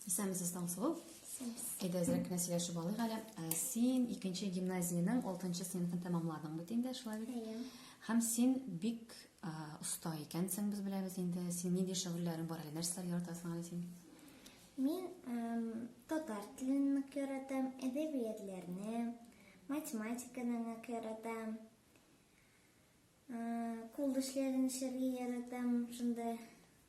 Исәнмесез, Таңсылу. Әйдә, әзрәк кенә сөйләшеп алыйк әле. Ә, Син икенче гимназиянең 6 сыйныфын тәмамладың бит инде, шулай бит? Әйе. Һәм син бик а, оста икәнсең, без беләбез инде. Син нинди шөгыльләрең бар әле? Нәрсәләр яратасың әле син? Мин эм, татар телен нык яратам, әдәбиятләрне, математиканы нык яратам. Э, Кул эшләрен эшләргә яратам, шунда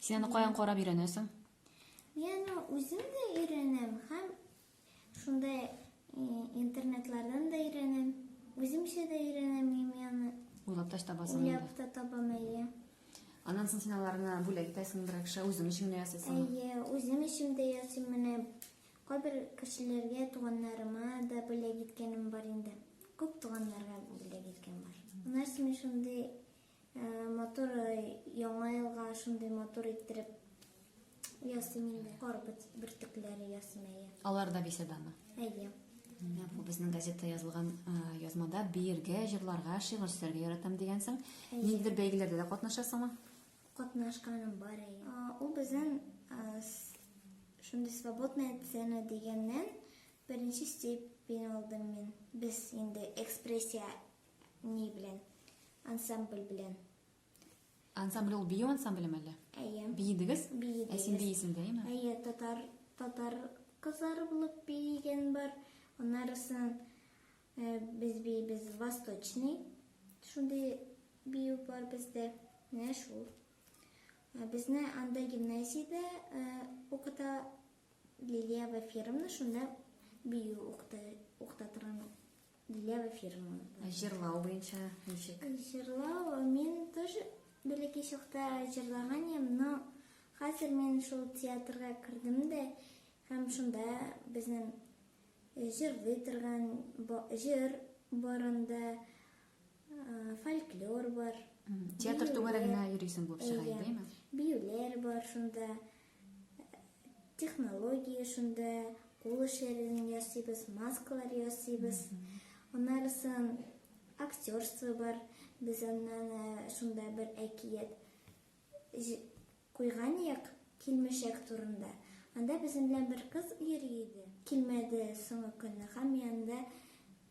Син аны каян карап өйрәнәсең? Я, ну, үзем дә өйрәнәм һәм шунда э, интернетлардан да өйрәнәм. Үземчә дә өйрәнәм имяны. Уйлап та табасың. Уйлап та табам әйе. Аннан соң син аларны бүләк итәсең берәр кешегә, үзең өчен генә ясыйсың. Әйе, үзем өчен дә ясыйм менә. Кайбер кешеләргә, туганнарыма да бүләк иткәнем бар инде. Күп туганнарга бүләк иткән бар. Нәрсә шундый Матур яңа елга шундый матур иттереп ясыйм инде. Кар бөртекләре ясыйм әйе. Алар да беседаны. Әйе. Бу безнең газетта язылган язмада биергә, җырларга, шигырь сөйләргә яратам дигәнсең. Ниндидер бәйгеләрдә дә катнашасыңмы? Катнашканым бар әйе. Ул безнең шундый свободная сцена дигәннән беренче степень алдым мин. Без инде экспрессия Ни белән? Ансамбль белән. Ансамбль ул бию ансамбле мәле? Әйе. Биедегез? Биедегез. Ә син биесең дә, әйме? Әйе, татар, татар кызлары булып биеген бар. Аннарысын э, без биебез восточный. Шундый бию бар бездә. Менә шул. Э, безне анда гимназиядә э, укыта Лилия Вафировна, шунда бию укыта, укыта торган Дилә Вафирова. Ә җырлау буенча ничек? Җырлау мин тоже бәләкәй чакта җырлаган идем, но хәзер мин шул театрга кердем дә һәм шунда безнең э, җырлый торган җыр барында э, фольклор бар. Театр түгәрәгенә йөрисең булып чыга, әйдәме? Биюләр бар шунда. технология шунда кул эшләрен ясыйбыз маскалар ясыйбыз аннарысын актерство бар без аннан э, шунда бер әкият куйган як килмешәк турында анда безнең белән бер кыз йөри иде килмәде соңгы көнне һәм янда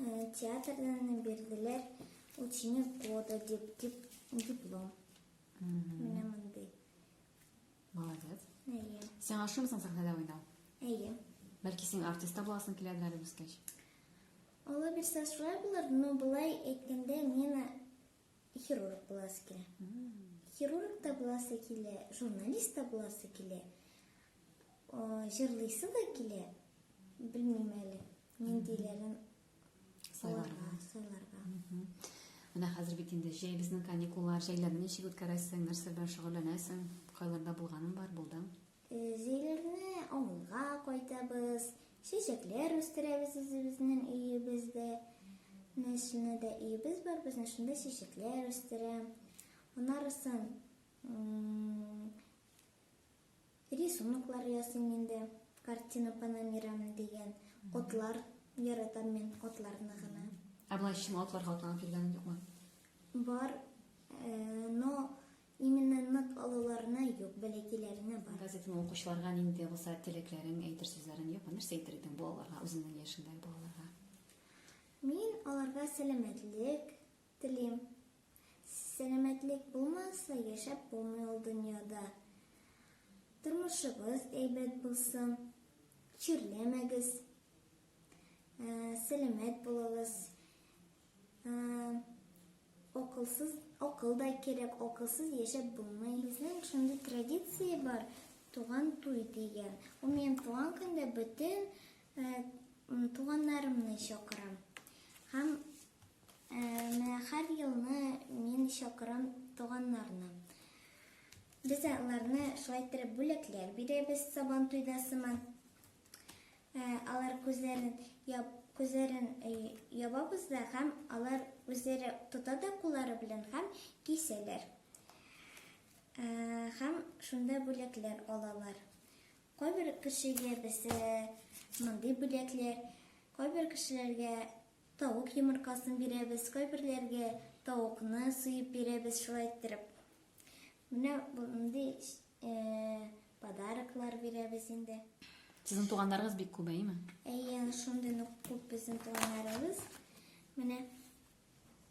Э, театрдан бирделәр ученик года дип дип диплом менә мондый молодец әйе сиңа ошыймысың сәхнәдә уйнау әйе бәлки син артист та буласың киләдер әле үскәч алла бирсә шулай булыр но былай әйткәндә мин Хирург буласы килә. Хирург та буласы килә, журналист та буласы килә. Җырлыйсы да килә. Белмим әле, ниндиләрен сайларга, сайларга. Менә хәзер бит инде җәй безнең каникуллар, җәйләрне ничек үткәрәсең, нәрсә белән шөгыльләнәсең? Кайларда булганың бар, булдың? Җәйләрне авылга кайтабыз, чәчәкләр үстерәбез үзебезнең өебездә. Менә шуны да өебез бар безнең, шунда чәчәкләр үстерәм. Анарысын рисунклар ясыйм инде. Картина по номерам дигән отлар яратам мин отларны гына. Ә былай чын атларга атланып йөргәнең юкмы? Бар, э, но Именно нык алуларына юк, бәләкәйләренә бар. Газетаны укучыларга нинди булса теләкләрең, әйтер сүзләрең юкмы? Нәрсә әйтер идең бу аларга, үзеңнең яшеңдәге балаларга? Мин аларга сәламәтлек телим. Сәламәтлек булмаса, яшәп булмый ул дөньяда. Тормышыгыз әйбәт булсын, чирләмәгез, ә, сәламәт булыгыз. Акылсыз, акыл да кирәк, акылсыз яшәп булмый. Безнең шундый традиция бар, туган туй дигән. Ул минем туган көндә бөтен туганнарымны чакырам. Һәм менә һәр елны мин чакырам туганнарны. Без аларны шулай иттереп бүләкләр бирәбез сабан туйда сыман. Ә, алар күзләрен яб, күзләрен э, ябабыз да һәм алар үзләре тота да куллары белән һәм кисәләр. Ә, һәм шунда бүләкләр алалар. Кайбер кешегә без э, мондый бүләкләр, кайбер кешеләргә тавык йомыркасын бирәбез, кайберләргә тавыкны суеп бирәбез шулай иттереп. Менә мондый Э, подароклар бирәбез инде. Сезнең туганнарыгыз бик күп, әйеме? Әйе, шундый нык күп безнең туганнарыбыз. Менә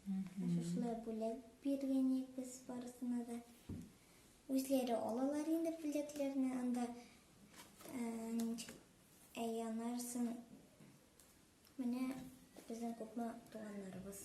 шушылай бүләк биргән идек без барысына да. Үзләре алалар инде бүләкләрне, анда әй анарсын. Менә безнең күпме туганнарыбыз.